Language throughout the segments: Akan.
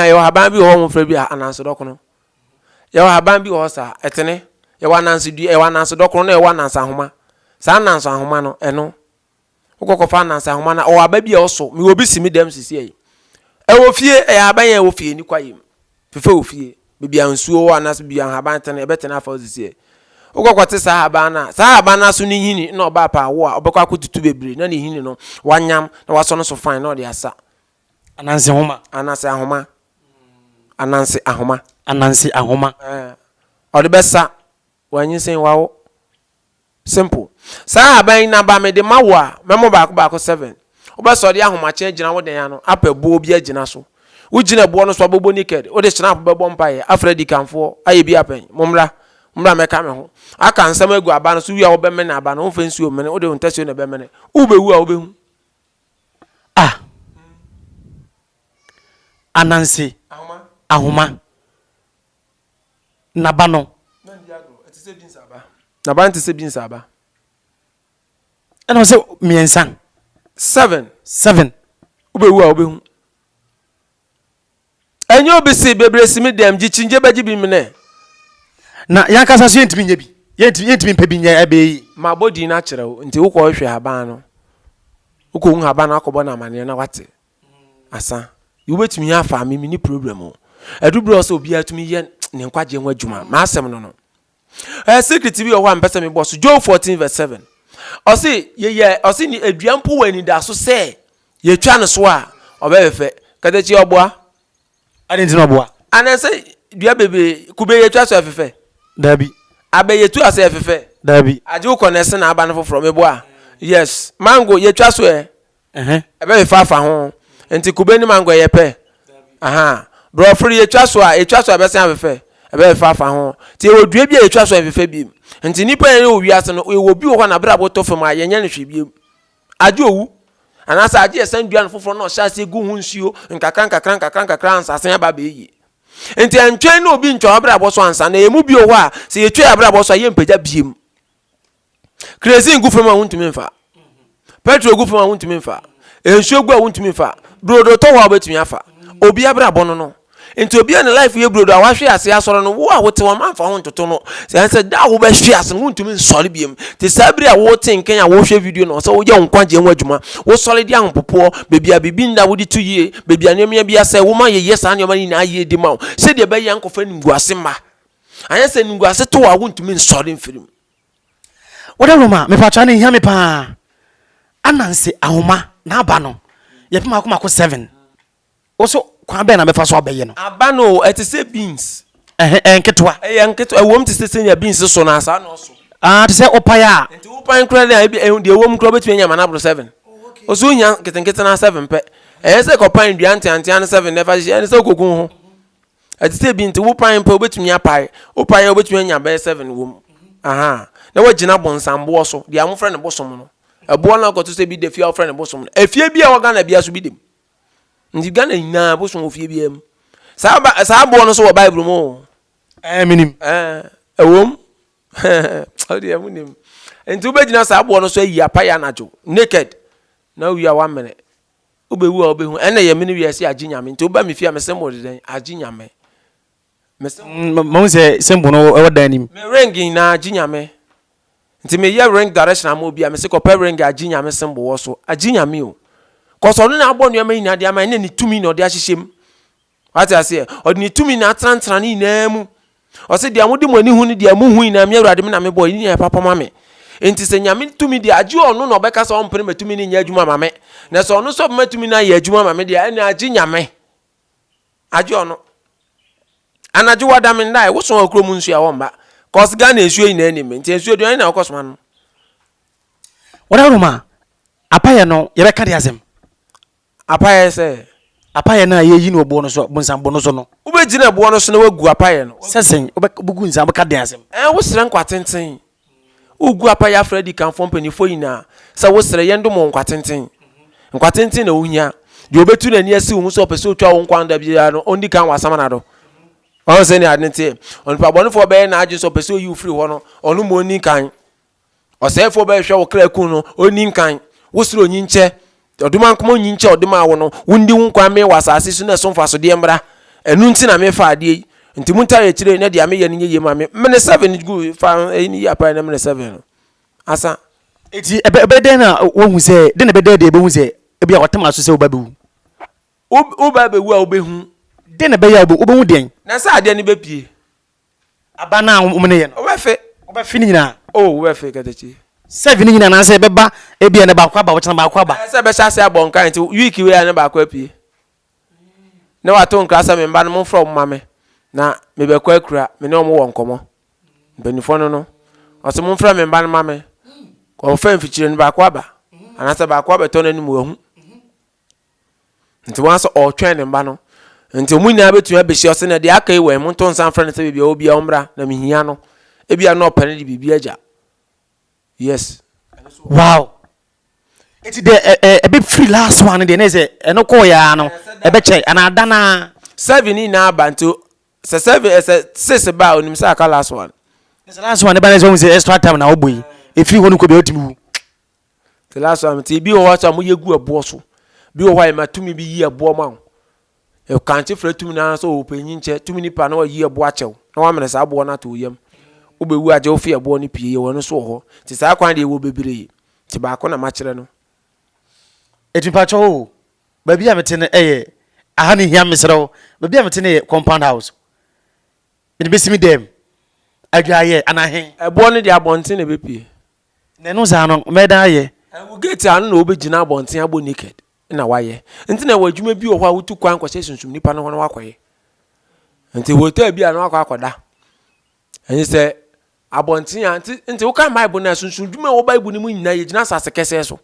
yɛwɔ haban bi wɔ hɔ wɔn fɛ bi a ananso dɔkono yɛwɔ haban bi wɔ hɔ saa ɛtene yɛwɔ ananso dua yɛwɔ ananso dɔkono na yɛwɔ ananso ahoma saa ananso ahoma no ɛno wokɔkɔfa ananso ahoma na ɔwɔ aba bi a ɔso mewɔ bi si me dɛm sisi ɛyi ɛwɔ fie ɛyɛ haban yɛ ɛwɔ fie ni kwa yɛ mu. Fefɛ wo fie, baabi a nsuo wɔ anaasɛ baabi a nhaban tene, ɛbɛtene afa wo sisiɛ. Wokɔ kɔte saa nhaban no a, saa nhaban no aso no nhini nna ɔbaa pɛ a wo a, wobɛkɔ akɔtutu bebree na ne nhini no, woanyam na woasɔ no so fann na ɔde asa. Ananse ahoma. Ananse ahoma. Ananse ahoma. Ananse ahoma. Ɛɛ, ɔde bɛsa. Wanyinsɛn wawo. Simple. Saa ahaban yi na ba mede ma wo a, mɛmɔ baako baako seven. Wobɛ sɛ ɔde ahomakye agyina wo dan ano apɛ boɔ bi agyina so. Wo gyina boɔ no so abobɔ naked, wode shenap bɛbɔ mpaeɛ, afrɛ adikanfoɔ, ayɛ bi apɛn. Mo mmra. Mmra mɛka me ho. Aka nsɛm agu aba no so wie a wobɛ mene aba no, womfa nsuo mmene, wode wo ntasuo na ɛbɛ mene. Wo bɛ wu a wobɛ hu. Ah. Ananse. Ahoma. Ahoma. n'aba no. Na ndi agorɔ, ɛte sɛ binsa aba. N'aba no te sɛ binsa aba. Ɛna ɔsɛ mmiɛnsa. Seven. Seven. Wobɛwu a wobɛhu. Ɛnyɛ obi se bebree si me dɛm gye kyingye bɛgye bi menɛ. Na yankasa so yɛntumi nyɛ bi. Yɛntumi mpɛ bi nyɛ ɛbɛyɛ yi. Mabɔ din no akyerɛ wo nti wokɔ hwɛ haban no. Wokɔhu haban no akɔbɔ no amaneɛ na wate. asa wobɛtumi yɛ afa me mene problem o ɛdu berɛ sɛ obiara tumi yɛ ne nkwagyeɛ ho adwuma maasɛm no no ɛyɛ secret bi wɔ hɔ a mpɛ sɛ mebɔ so job 14 vs 7 ɔse yɛyɛ ɔse ne adua mpo wɔ anida so sɛ yɛtwa no so a ɔbɛyɛ fɛ katakyi ɔboa ɛne nti na ɔboa anaasɛ dua bebree kube yɛtwa so ɛfefɛ dabi abɛ yɛtu ase ɛfefɛ dabi agye wokɔ na ɛse na aba no foforɔ meboa yes mango yɛtwa so ɛ Ɛhɛn, ɛbɛ fefɛ afa ho. Nti kube ne mango ɛyɛ pɛ? Ahaa. Brɔfo de yɛtwa so a, yɛtwa so a ɛbɛsan afefɛ? Ɛbɛ fefɛ afa ho. Nti yɛwɔ dua bi a yɛtwa so a ɛmfefɛ biom. Nti nnipa yɛn yɛ wɔ wiase no, yɛwɔ obi wɔ hɔ a n'abrabɔ tɔ fam a yɛnyɛ no hwee biom. Agye owu. Anaasɛ agye yɛsan dua no foforɔ na ɔhyɛ aseɛ gu ho nsuo nkakra nkakra nkakra nkakra ansa asan aba abɛyɛ yie. Nti ɛntwɛn na obi ntwa w'abrabɔ so ansa, na yɛn mu bi wɔ hɔ a sɛ yɛtwa yɛn abrabɔ so a yɛmpagya biom. Kerosene gu fam a wontumi mfa. Petrol gu fam a wontumi mfa. Nsuo gu a wontumi mfa. Brodo tɔ hɔ a wobɛtumi afa. Obi abrabɔ no no. Nti obi a ne life yɛ brodo a wahwe ase asɔre no, wo a wote hɔ manfa ho ntoto no. Sɛ ɛne sɛ da a wobɛhwe ase no wontumi nsɔre biam. Te saa bere a wote nkɛn a wohwɛ video no, ɔsɛ woyɛ wo nkwagyeɛ ho adwuma. Wosɔre de ahopopoɔ, baabi a biribi nda wode to yie, baabi a nneɛma bi asɛe woma yɛyɛ saa nneɛma no nyinaa yie de ma wo. Sɛdeɛ ɛbɛyɛ a nkɔfa animguase mma. anyɛ sɛ animguase to a wontumi nsɔre mfiri mu. Wode nwoma a, mepatwa no hia me paa. Ananse ahoma na aba no yɛ pɛ mako mako seven. Wo so kwan bɛn na mɛfa so abɛyɛ no? Aba no ɛte sɛ beans. Ɛhɛ ɛyɛ nketewa. Ɛyɛ nketewa ɛwɔ mu te sɛ sɛnea beans so no saa na ɔso. Ah te sɛ opae a. Nti wopan kura no a ebi ɛho deɛ ɛwɔ mu kura wobɛtumi anya ma no aboro seven. Ɔso ohia nketenkete na seven pɛ. Ɛyɛ sɛ kɔpan dua nteantea no seven na ɛfa hyehyɛ ɛne sɛ wokɔgu wo ho. ɛte sɛ bi nti wo pae mpɛ wobɛtumi apae wo pae a wobɛtumi anya bɛyɛ seven wɔ mu aha na wagyina bɔnsamboɔ so deɛ wɔfrɛ no bosom no ɛboɔ no akɔto sɛ bi da fie a wɔfrɛ no bosom no efie bi a wɔ Ghana bia so bi dem nti Ghana nyinaa bosom wɔ fie biara mu saa ba saa boɔ no so wɔ Bible mu o ɛɛ eh, menim ɛɛ eh, ɛwom ɔdeɛ mu nim nti wobɛgyina saa boɔ no so ayi apae anadwo naked na wowie a woamene Wo bɛ wu a wo bɛ hu ɛna yɛ mene wiase agye nyame nti wo ba me fie a me symbol de dɛn agye nyame. Me symbol. Mo sɛ symbol no ɛwɔ dan nim. Me ring nyinaa agye nyame nti me yɛ ring direction ama obi a me se kɔpɛ ring agye nyame symbol wɔ so agye nyame o. Kɔsɔ ɔno na abɔ nneɛma nyinaa de ama ɛna ne tumi na ɔde ahyehyɛ mu. Wate aseɛ? Ɔde ne tumi na atenatena ne nyinaa mu. Ɔsɛ deɛ mode mo ani hu ne deɛ mohu nyinaa, me Awurade me na mebɔ, ɛni deɛ ɛpapa ma me. Enti sɛ Nyame tumi deɛ, agye ɔno na ɔbɛka sɛ ɔmpene ma tumi no nyɛ adwuma ma me. Na sɛ ɔno sɛ ɔbɛma tumi no ayɛ adwuma ma me deɛ, ɛne agye Nyame. Agye ɔno. Anadwo wada me ndae, woso wɔ kurom nsuo a wɔmba. Cause Ghana nsuo nyinaa nim me, nti nsuo deɛ ɔne na ɔkɔ soma no. Wada wɔ nom a, apayɛ no yɛbɛka de asɛm. Apaeɛ sɛ. Apaeɛ no a yɛyi no wɔ boɔ no so, bonsam bo no so no. Wobɛgyina boɔ no so na woagu apaeɛ no. Sɛ sɛn? Wobɛgu nsa, wobɛka dɛn asɛm? Ɛɛ, wosrɛ nkwatenten. Wogu apaeɛ afrɛ adikanfoɔ mpanimfoɔ nyinaa sɛ wosrɛ, yɛndom wo nkwatenten. Nkwatenten na wohia. Deɛ ɔbɛtu n'ani asi wo ho sɛ ɔpɛ sɛ ɔtwa wo nkwa no da biara no, ɔndi kan wasam n'ado. Wahu sɛdeɛ ade no teɛ? Onipa bɔnefoɔ bɛyɛ n'adwene sɛ ɔpɛ sɛ ɔyi wo firi hɔ no, ɔno mmom ɔnni kan. Ɔsɛefoɔ bɛhwehwɛ wo kra akum no, ɔnni nkan. Wo srɛ onyinkyɛ, ɔdomankoma onyinkyɛ a ɔde maa wo no, wondi wo nkwa mmee wɔ asase so na ɛso mfasodeɛ mmra. Ɛno nti na mefa adeɛ yi. Nti montaa yɛ akyire na deɛ meyɛ no nyɛ yie ma me. Mene seven gu fa ɛyi no yi apa yi na mene seven no. Asa. Nti ɛbɛ ɛbɛyɛ dɛn na woahu sɛ, dɛn na ɛbɛda adi a yɛbɛhu sɛ ebia wɔatam aso sɛ wo ba bɛwu? Wo wo ba bɛwu a wobɛhu. Dɛn na ɛbɛyɛ a wobɛhu deɛn? Na sɛ adeɛ no bɛpue. Aba no a wɔn ne yɛ no. Wɔbɛfe. Wɔbɛfe ne nyinaa. O wɔbɛfe katakyi. Sɛvi ne nyinaa anaasɛ ɛbɛba ebi a ne baako aba wɔkyena baako aba. Ɛsɛ ɛbɛhyɛ ase abɔ nkan nti wiiki wei a ne baako apue. Ne wato nkra sɛ me mma no momfrɛ wɔn ma me na mebɛkɔ akura me ne wɔn wɔ nkɔmɔ. Mpanimfoɔ no no ɔsɛ momfrɛ me mma no ma me. Wɔfɛ mfikyire no baako aba anaasɛ baako abɛtɔ n'anim wahu. Nti wɔn asɛ ɔretwɛn ne mma no. Nti wɔn nyinaa bɛtumi abɛhyia ɔsɛ na deɛ aka yi wɔ ɛmu nto nsa mfrɛ no sɛ baabi a ɔbia ɔmmra na mehia no. Ebi a na ɔpɛ no de biribi agya. Yes. Wow. Nti deɛ ɛbɛ firi last one deɛ ne sɛ ɛno kɔɔ yɛ ano ɛbɛ kyɛ anaa danaa. Seven ni nyinaa ba nti sɛ seven sɛ six ba a onim sɛ aka last one. Sɛ last one ne ba ne sɛ ɔhu sɛ extra time na ɔbɔ yi efiri hɔ no kɔ bia ɔtumi wu. The last one nti ebi wɔ hɔ sɛ wɔyɛ gu ɛboɔ so bi wɔ hɔ a yɛma tumi bi yi ɛboɔ ma wo ɛkankye frɛ tumi no ara sɛ ɔpanyin kyɛ tumi nipa na wayi ɛboɔ akyɛw na wamene saa aboɔ no ato wo yam wobɛwu agye wo fi ɛboɔ no pie yɛwɔ no so wɔ hɔ nti saa kwan deɛ ɛwɔ bebree nti baako na makyerɛ no ɛti mpakyɛ o baabi a mete no ɛyɛ aha no hia meserɛ wo baabi a mete no yɛ compound house mede bɛsi me dɛm adwaayɛ anahe ɛboɔ no deɛ abɔnten na ɛbɛpie Na ɛno saa no, mɛdan ayɛ. Ɛwo gate ano na wobɛgyina abɔnten abɔ naked na woayɛ. Nti na ɛwɔ adwuma bi wɔ hɔ a wotu kwan kɔhyɛ sunsum nipa no hɔ na woakɔyɛ. Nti hotel bi a na woakɔ akɔda. Ɛne sɛ abɔnten a, nti, nti wokan Bible no a, sunsum dwuma a ɛwɔ Bible no mu nyinaa, yɛgyina asase kɛsɛɛ so.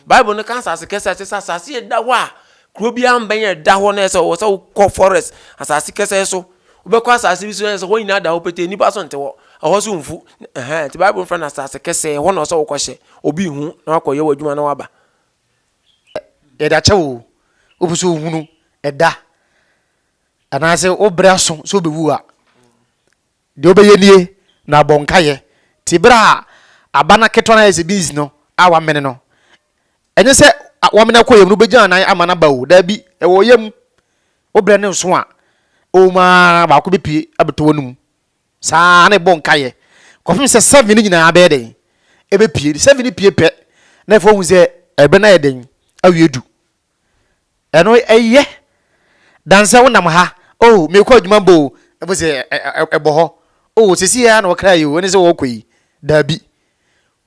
Bible no ka asase kɛse a ɛte sɛ asase a ɛda hɔ a kuro biara mbɛn a ɛda hɔ na ɛsɛ ɔwɔ sɛ wokɔ forest asase kɛse so wobɛkɔ asase bi so na ɛsɛ hɔ nyinaa da hɔ pete nnipa so nte hɔ ɛhɔ so mfu ɛhɛn nti bible fɛ no asase kɛse ɛhɔ na ɔsɛ wokɔhyɛ obi hu na wakɔyɛ w'adwuma na waba yɛda kyɛ wo wopɛ sɛ ohunu ɛda anaasɛ wobrɛ aso sɛ wobɛwu a Deɛ wobɛyɛ nie, na bɔ nkaeɛ. Te berɛ a aba no aketewa no ayɛ sɛ beans no a wɔamene no. Ɛnyɛ sɛ wɔamene akɔ yam no wobɛgyina nan ama no aba o, daabi, ɛwɔ yam. Wobrɛ no nso a, ɛwom ara baako bɛpue abɛtɔ w'anom. Saa ara na ɛbɔ nkaeɛ kɔpem sɛ seven no nyinaa bɛyɛ dɛn? Ɛbɛpue. Seven no pue pɛ na afei woahu sɛ ɛberɛ no ayɛ dɛn? Awie adu. Ɛno ɛyɛ Dan sɛ wonam ha oh merekɔ adwuma bɔ o ɛfo sɛ ɛbɔ hɔ oh sɛsi yɛ a na ɔkra yi o ɛne sɛ wɔkɔ yi daabi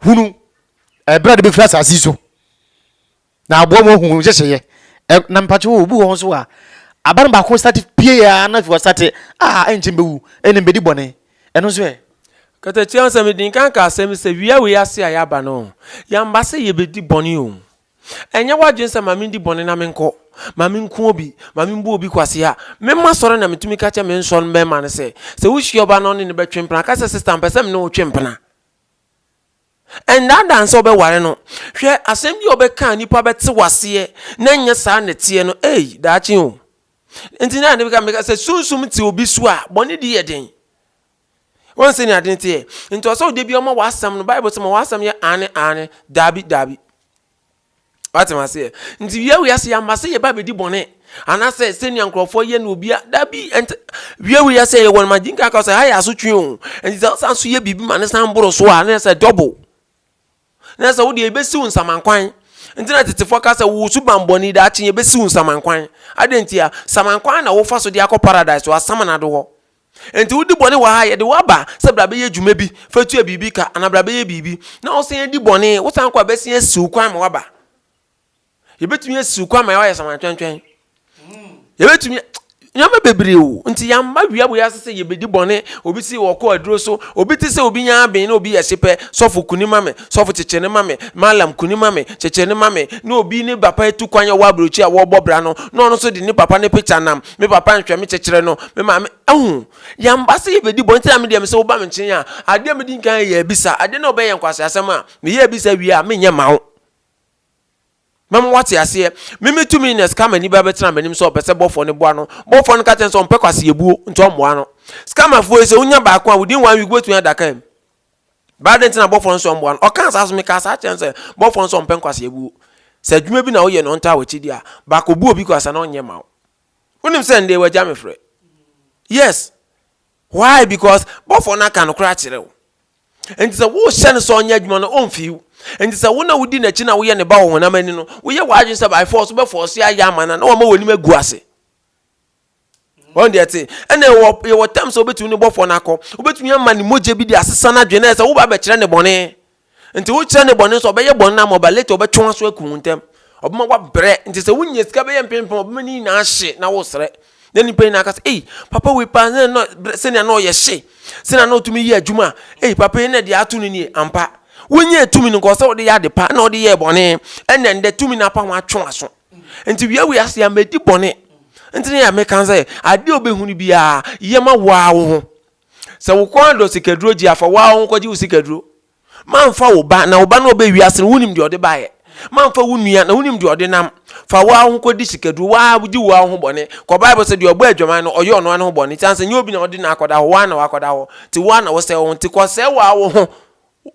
hunu ɛberɛ a de bɛfiri asase so na aboa mu ahu nhyehyɛeɛ na mpakye wɔ obi wɔ ho so a aba no baako sate pie a na fi wɔsate a ɛnkyɛ mbɛwu ɛne mbɛdi bɔne ɛno nso ɛ Katakyia nsɛm din kan ka asɛm sɛ wia wei ase a yɛaba no yɛmba sɛ yɛbɛdi bɔne o Ɛnyɛ w'adwene sɛ, 'Ma mendi bɔne na menkɔ, ma menku obi, ma membu obi kwasea. Memma sɔre na metumi ka kyerɛ me nsɔ no barima no sɛ, sɛ wohyia ɔbaa na ɔne no bɛtwe mpena, ka sɛ, 'Sista, mepɛ sɛ me ne wo twe mpena. Ɛnnaadaa no sɛ wobɛware no. Hwɛ, asɛm bi a wobɛka a nnipa bɛte wo aseɛ na ɛnyɛ saa na ɛteɛ no, ei, daakye o. Enti na ɛne meka, meka sɛ, sunsum te obi so a, bɔne di yɛ den. Wohu sɛnea ade no teɛ? Nti ɔsɛ wo da bi ɔma w'asɛm no, Bible sɛ ma w'asɛm yɛ aane aane, daabi daabi. Wate maseɛ? Nti wia wiase yɛama sɛ yɛba bɛdi bɔne anaasɛ sɛnea nkurɔfoɔ yɛ no obia daabi ɛnti wia wiase yɛwɔ no magye nka ka sɛ ha yɛ asotwe o nti sɛ wosan so yɛ biribi ma ne san boro so a na sɛ dɔbo na sɛ wodeɛ yɛbɛsi wo nsamankwan nti na tetefoɔ ka sɛ wo so bambɔne daakye yɛbɛsi wo nsamankwan adɛn ntia samankwan na wofa so de akɔ paradise wɔ asamana do hɔ Enti wodi bɔne wɔ ha a, yɛde wo aba sɛ bra bɛyɛ adwuma bi fa tua biribi ka anaa bra bɛyɛ biribi, na wosan adi bɔne, wosan kɔ a bɛsan asi wo kwan ma woaba. Yɛbɛtumi asi wo kwan ma woayɛ samantwɛntwɛn. Yɛbɛtumi nneɛma bebree o nti yɛmma wia wei ase sɛ yɛbɛdi bɔne obi si ɔkɔ aduro so obi te sɛ obi nya aben na obi yɛ hyepɛ sɔfo kuni ma me sɔfo kyekyere ne ma me malam kuni ma me kyekyere ne ma me na obi ne papa atu kwan a wɔ aburokyi a wɔrebɔ bra no na ɔno nso de ne papa ne picture nam me papa nhwɛ me kyekyerɛ no me maame ɛho yɛmba sɛ yɛbɛdi bɔ nti na medeɛ me sɛ woba me nkyɛn a adeɛ medi nkan yɛ abisa adeɛ na wobɛyɛ nkwase asɛm a meyɛ abisa wie a menyɛ ma wo mɛma wate aseɛ meme two minutes ka m'ani bɛbɛ tena m'anim sɛ ɔpɛ sɛ bɔfoɔ no boa no bɔfoɔ no ka kyɛn sɛ ɔmpɛ kwase yɛbuo nti ɔmmoa no scammerfoɔ yi sɛ wonya baako a within one week wobɛtumi adaka mu But adɛn nti na bɔfoɔ no sɛ ɔmmoa no? Ɔkaa saa so mekaa saa kyerɛ no sɛ bɔfoɔ no sɛ ɔmpɛ nkwasea buo. Sɛ adwuma bi na woyɛ na ɔntaa w'akyidi a, ba kɔbu obi kwasea na ɔnyɛ ma wo. Wonim sɛ ndɛ wagya me frɛ. Yes. Why? Because bɔfoɔ no aka nokorɛ akyerɛ wo. Nti sɛ wohyɛ no sɛ ɔnyɛ adwuma no ɔmfii wo. Nti sɛ wo na wodi n'akyi na woyɛ ne ba wɔ honam ani no, woyɛ w'adwene sɛ by force wobɛfɔɔse ayɛ ama no a na wama w'anim agu ase. wɔn deɛ te ɛna ɛwɔ yɛwɔ tam sɛ wobɛtumi ne bɔfoɔ no akɔ wobɛtumi ama ne mogya bi de asesa no adwene sɛ woba bɛkyerɛ ne bɔne nti wokyerɛ ne bɔne sɛ ɔbɛyɛ bɔne no ama ɔba late ɔbɛtwe wo aso aku wo ntɛm ɔbɛma wabrɛ nti sɛ wonya sika bɛyɛ mpempem ɔbɛma ne nyinaa hye na wosrɛ na nipa nyinaa ka sɛ ei papa wei paa sɛnea na ɔyɛ hye sɛnea na ɔtumi yɛ adwuma ei papa yi na deɛ ato no nie ampa wonyɛ tumi no nkɔ sɛ wode yɛ ade pa na ɔde yɛ bɔne ɛnna ɛndɛ tumi no apa ho atwe aso Nti wia wei ase a mɛdi bɔne. Nti ne yɛ meka sɛ adeɛ obɛhunu biara yɛ ma woaa wo ho. Sɛ wo kɔn adɔ sikaduro gye a fa woaa wo ho kɔgye wo sikaduro. Mamfa wo ba na wo ba no ɔbɛ wiase no wonim deɛ ɔde baeɛ. Mamfa wo nua na wonim deɛ ɔde nam. Fa woaa wo ho kɔdi sikaduro woaa gye woaa wo ho bɔne. Kɔ bible sɛ deɛ ɔbɔ adwaman no ɔyɛ ɔnoa ne ho bɔne. Nti ansa nyɛ obi na ɔde no akɔda hɔ woaa na wakɔda hɔ. Nti woaa na wosɛe wo ho. Nti kɔ sɛe woaa wo ho.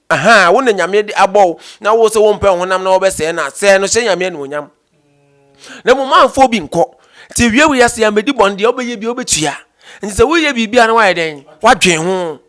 Ahaa, wo na Nyame de abɔ wo, na wo se wompɛ wo honam na wɔbɛsɛɛ no a, sɛɛ no, hyɛ Nyame anuonyam. Na mmom mamfa obi nkɔ. Nti awia wei ase yɛ mɛdi bɔne, deɛ wobɛyɛ biara wobɛtua. Nti sɛ woreyɛ biribi a na woayɛ dɛn? Woadwen ho.